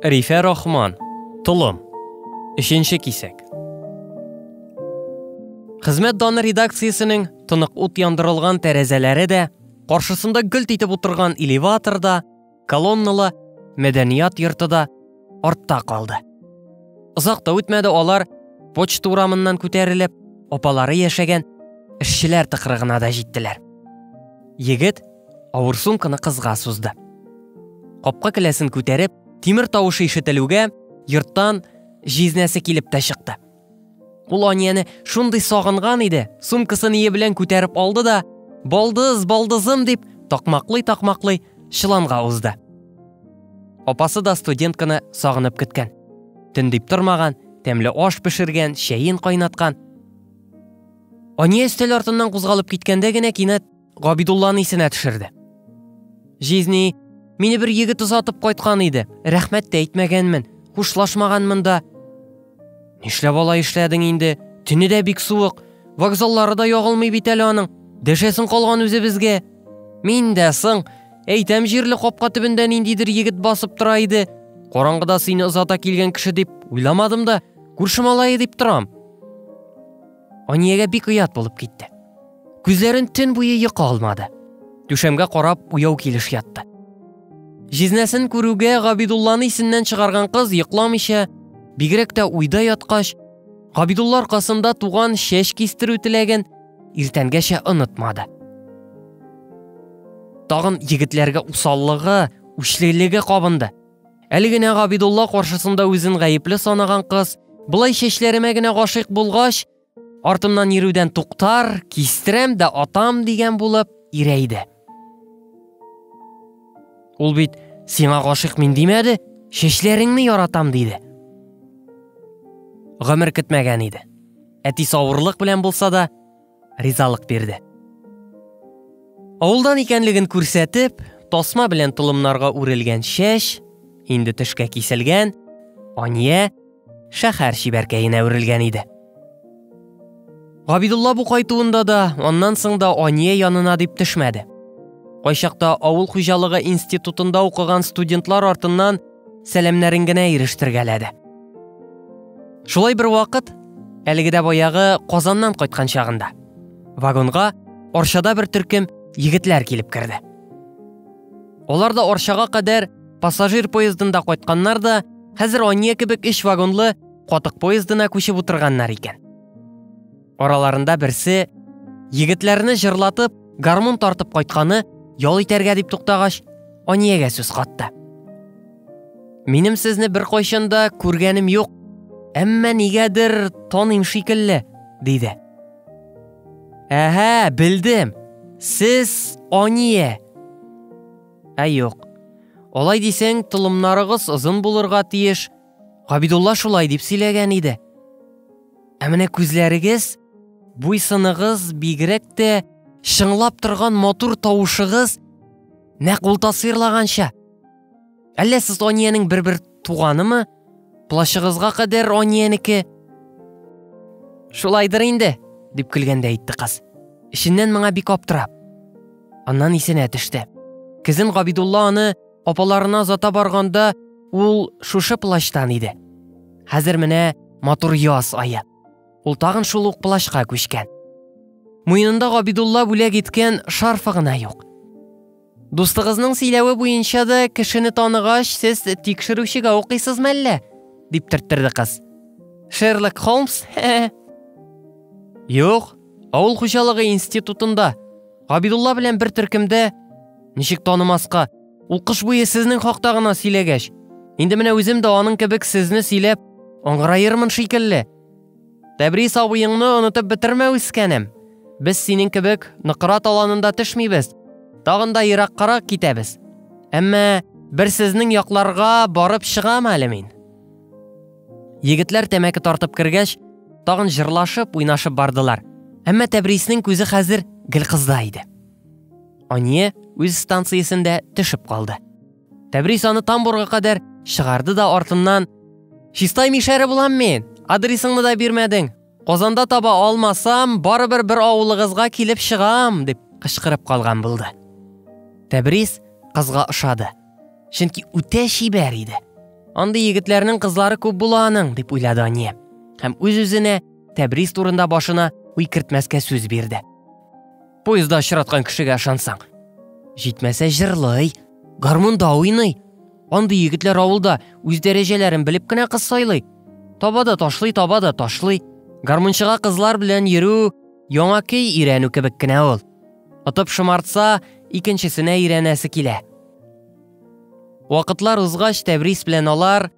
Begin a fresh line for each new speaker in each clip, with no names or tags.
Рифә Рахман, Толым, өченче кисәк. Хезмәт даны редакциясенең тонык ут яндырылган тәрәзәләре дә, каршысында гөлт итеп утырган элеватор да, колонналы мәдәният йорты да артта калды. Озак та үтмәде алар почта урамыннан күтәрелеп, апалары яшәгән эшчеләр тыкрыгына да җиттеләр. Егет авыр сумканы кызга сузды. Капка келәсен күтәреп, тимер тавышы ишетелүгә, йорттан җизнәсе килеп тә чыкты. Ул Анияне шундый сагынган иде, сумкасын ие белән күтәреп алды да, балдыз, балдызым дип, такмаклый-такмаклый чыланга узды. Апасы да студентканы сагынып көткән. Төн дип тормаган, тәмле аш пешергән, чәен кайнаткан. Ания өстәл артыннан кузгалып киткәндә генә кинәт Габидулланы исенә төшерде. Жизни, мине бер егет озатып кайткан иде. Рәхмәт тә әйтмәгәнмен, хушлашмаганмын да. Нишләп алай эшләдең инде? Төне дә бик суык. Вокзаллары да ягылмый бит әле аның. Дәшәсең калган үзе безгә. Мин дә соң, әйтәм җирле капка төбендә ниндидер егет басып тора иде. Караңгыда сине озата килгән кеше дип уйламадым да, күрше малае дип торам. Аниягә бик оят булып китте. Күзләрен төн буе йокы алмады. Түшәмгә карап уяу килеш ятты. Җизнәсен күрүгә Габидулланы исеннән чыгарган кыз йокламыйча, бигрәк тә уйда яткач, Габидулла аркасында туган чәч кистерү теләген иртәнгәчә онытмады. Тагын егетләргә усаллыгы, үчлелеге кабынды. Әле генә Габидулла каршысында үзен гаепле санаган кыз, былай чәчләремә генә гашыйк булгач, Артымнан йөрүдән туктар, кистерәм дә атам дигән булып ирәйде. Ул бит сиңа гашыйк мин димәде, чәчләреңне яратам диде. Гомер көтмәгән иде. Әти савырлык белән булса да ризалык бирде. Авылдан икәнлеген күрсәтеп, тасма белән толымнарга үрелгән чәч, инде төшкә киселгән, Ания шәһәр чибәркәенә үрелгән иде. Габидулла бу кайтуында да, аннан соң да Ания янына дип төшмәде. Кайчакта авыл хуҗалыгы институтында укыган студентлар артыннан сәламнәрен генә ирештергәләде. Шулай бер вакыт, әлеге дә баягы Казаннан кайткан чагында, вагонга Арчада бер төркем егетләр килеп керде. Алар да Арчага кадәр пассажир поездында кайтканнар да, хәзер Ания кебек өч вагонлы катык поездына күчеп утырганнар икән. Араларында берсе егетләрне җырлатып, гармун тартып кайтканы ял итәргә дип туктагач, Аниягә сүз катты. Минем сезне бер кайчан да күргәнем юк, әмма нигәдер таныйм шикелле, диде. Әһә, белдем. Сез Ание. Ә юк. Алай дисең, тылымнарыгыз озын булырга тиеш. Габидулла шулай дип сөйләгән иде. Ә менә күзләрегез, буйсыныгыз бигрәк тә чыңлап торган матур тавышыгыз нәкъ ул тасвирлаганча. Әллә сез Аниянең бер-бер туганымы? Плащыгызга кадәр Аниянеке. Шулайдыр инде, дип көлгәндә әйтте кыз. Эченнән моңа бик аптырап. Аннан исенә төште. Кизен Габидулла аны апаларына зата барганда ул шушы плащтан иде. Хәзер менә матур яз ае. Ул тагын шул ук плащка күчкән. Муенында Габидулла бүләк иткән шарфы гына юк. Дустыгызның сөйләве буенча да кешене таныгач, сез тикшерүчегә укыйсызмы әллә? дип төрттерде кыз. Шерлок Холмс? Юк, авыл хуҗалыгы институтында. Габидулла белән бер төркемдә. Ничек танымаска? Ул кыш буе сезнең хакта гына сөйләгәч. Инде менә үзем дә аның кебек сезне сөйләп, аңгыраермын шикелле. Тәбрис абыеңны онытып бетермә, үскәнем. Без синең кебек ныкыра таланында төшмибез. Тагын да ераккарак китәбез. Әмма бер сезнең якларга барып чыгам әле мин. Егетләр тәмәке тартып кергәч, тагын җырлашып, уйнашып бардылар. Әмма Тәбриснең күзе хәзер гел кызда иде. Ание үз станциясендә төшеп калды. Тәбрис аны тамбурга кадәр чыгарды да артыннан Чистай мишәре булам мин, адресыңны да бирмәдең. Казанда таба алмасам, барыбер бер авылыгызга килеп чыгам, дип кычкырып калган булды. Тәбрис кызга ошады. Чөнки үтә чибәр иде. Андый егетләрнең кызлары күп була аның, дип уйлады Ания. Һәм үз-үзенә Тәбрис турында башына уй кертмәскә сүз бирде. поезда очраткан кешегә ышансаң җитмәсә җырлый гармунда уйный андый егетләр авылда үз дәрәҗәләрен белеп кенә кыз сайлый таба да ташлый таба да ташлый гармунчыга кызлар белән йөрү яңа көй өйрәнү кебек кенә ул отып шомартса икенчесенә өйрәнәсе килә вакытлар узгач тәбрис белән алар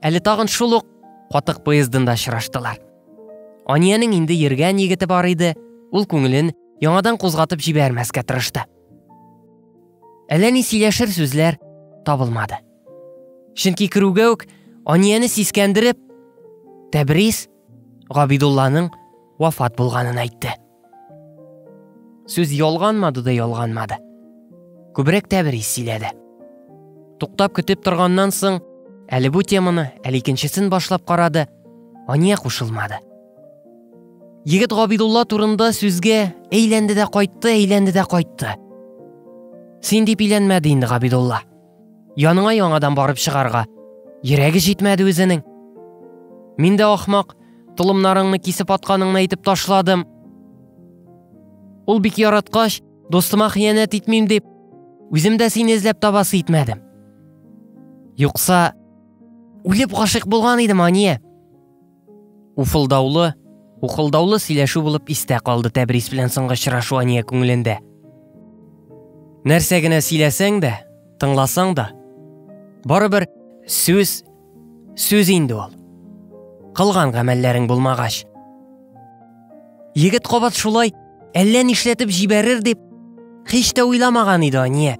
Әле тагын шул ук катык поездында очраштылар. Аниянең инде йөргән егете бар иде, ул күңелен яңадан кузгатып җибәрмәскә тырышты. Әллә ни сөйләшер сүзләр табылмады. Чөнки керүгә үк Анияне сискәндереп, Тәбрис Габидулланың вафат булганын әйтте. Сүз ялганмады да ялганмады. Күбрәк тәбрис сөйләде. Туктап көтеп торганнан соң, әле бу теманы, әле икенчесен башлап карады, Ания кушылмады. Егет Габидулла турында сүзгә әйләнде дә кайтты, әйләнде дә кайтты. Син дип иләнмәде инде Габидулла. Яныңа яңадан барып чыгарга. Йөрәге җитмәде үзенең. Мин дә ахмак, толымнарыңны кисеп атканыңны әйтеп ташладым. Ул бик яраткач, достыма хыянәт итмим дип, үзем дә сине эзләп табасы итмәдем. Юкса, үлеп гашыйк булган идем, Ания. Уфылдаулы, ухылдаулы сөйләшү булып истә калды Тәбрис белән соңгы очрашу Ания күңелендә. Нәрсә генә сөйләсәң дә, тыңласаң да, барыбер сүз сүз инде ул. Кылган гамәлләрең булмагач. Егет кабат шулай әллә нишләтеп җибәрер дип һич тә уйламаган иде Ания.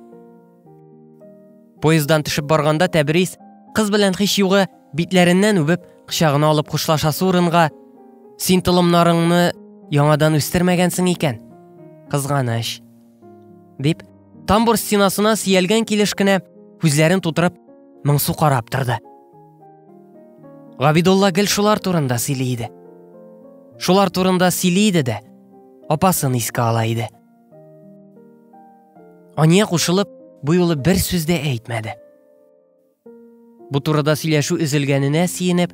Поездан төшеп барганда Тәбрис кыз белән хич югы битләреннән үбеп, кочагына алып хушлашасы урынга Син толымнарыңны яңадан үстермәгәнсең икән. Кызганыч. Дип, тамбур стенасына сиялгән килеш кенә күзләрен тутырып, моңсу карап торды. Габидулла гел шулар турында сөйли иде. Шулар турында сөйли иде дә, апасын искә ала иде. Ания кушылып, бу юлы бер сүз дә әйтмәде. Бу турыда сөйләшү өзелгәненә сиенеп,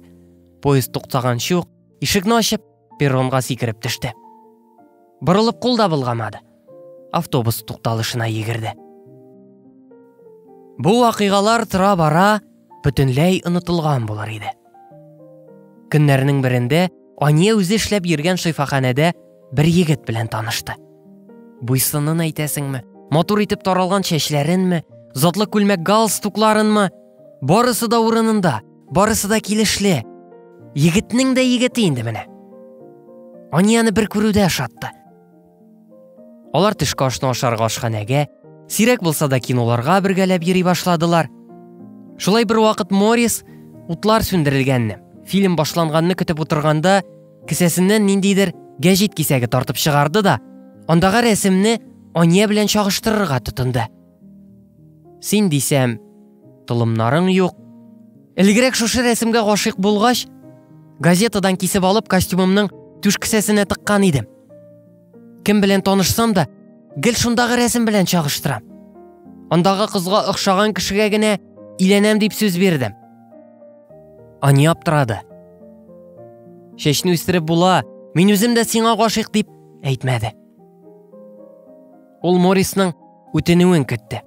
поезд туктаганчы ук ишекне ачып, перронга сикереп төште. Борылып кул да булгамады. Автобус тукталышына егерде. Бу вакыйгалар тора бара бөтенләй онытылган булыр иде. Көннәрнең берендә Ания үзе эшләп йөргән шифаханәдә бер егет белән танышты. Буйсынын әйтәсеңме, матур итеп таралган чәчләренме, затлы күлмәк галстукларынмы, барысы да урынында, барысы да килешле. Егетнең дә егете инде менә. Анияне бер күрүдә ошатты. Алар төшке ашны ашарга ашханәгә, сирәк булса да киноларга бергәләп йөри башладылар. Шулай бер вакыт Морис утлар сүндерелгәнне, фильм башланганны көтеп утырганда, кесәсеннән ниндидер гәҗит кисәге тартып чыгарды да, андагы рәсемне Ания белән чагыштырырга тотынды. Син дисәм, толымнарың юк. Элегрәк шушы рәсемгә гашыйк булгач, газетадан кисеп алып костюмымның түш кесәсенә тыккан идем. Кем белән танышсам да, гел шундагы рәсем белән чагыштырам. Андагы кызга охшаган кешегә генә иләнәм дип сүз бирдем. Ани аптырады. Чәчне үстереп була, мин үзем дә сиңа гашыйк дип әйтмәде. Ул Морисның үтенүен көтте.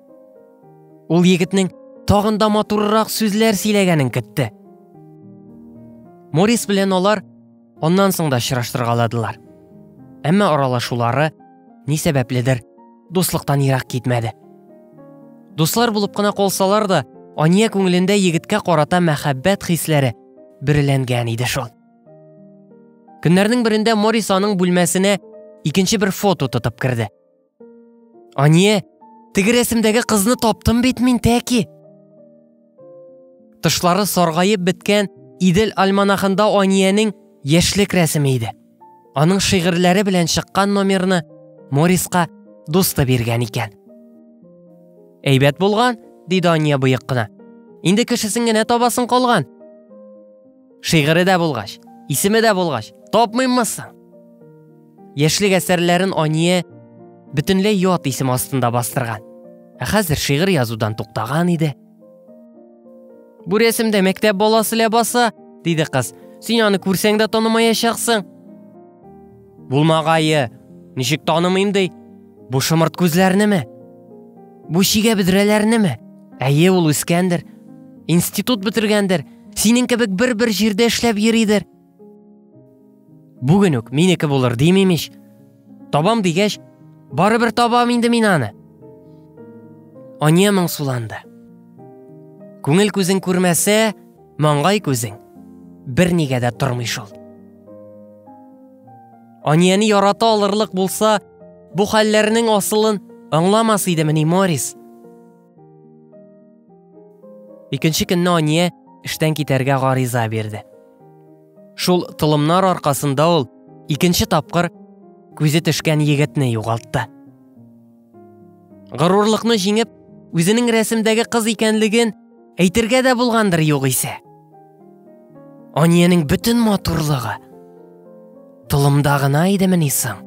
Ул егетнең тагын да матуррак сүзләр сөйләгәнен көтте. Морис белән алар аннан соң да очраштыргаладылар. Әмма аралашулары ни сәбәпледер дуслыктан ерак китмәде. Дуслар булып кына калсалар да, Ания күңелендә егеткә карата мәхәббәт хисләре бөреләнгән иде шул. Көннәрнең берендә Морис аның бүлмәсенә икенче бер фото тотып керде. Ание, теге рәсемдәге кызны таптым бит мин тәки. Тышлары саргаеп беткән Идел альманахында Аниянең яшьлек рәсеме иде. Аның шигырьләре белән чыккан номерны Мориска дусты биргән икән. Әйбәт булган, диде Ания боек кына. Инде кешесен генә табасын калган. Шигыре дә булгач, исеме дә булгач, тапмыйммы соң? Яшьлек әсәрләрен Ания бөтенләй ят исем астында бастырган. Ә хәзер шигырь язудан туктаган иде. Бу рәсемдә мәктәп баласы ләбаса, диде кыз. Син аны күрсәң дә танымаячаксың. Булмагае, ничек танымыйм ди? Бу шымырт күзләрнеме? Бу чигә бедрәләрнеме? Әйе, ул үскәндер. Институт бетергәндер. Синең кебек бер-бер җирдә эшләп йөридер. Бүген үк минеке булыр димим ич. Табам дигәч, барыбер табам инде мин аны. Ания моңсуланды. Күңел күзен күрмәсә, Маңгай күзең бернигә дә тормый шул. Анияне ярата алырлык булса, бу хәлләрнең асылын аңламас идемени Морис. Икенче көнне Ания эштән китәргә гариза бирде. Шул тылымнар аркасында ул икенче тапкыр күзе төшкән егетне югалтты. Горурлыкны җиңеп, үзенең рәсемдәге кыз икәнлеген әйтергә дә булгандыр югыйсә. Аниянең бөтен матурлыгы толымда гына идемени соң?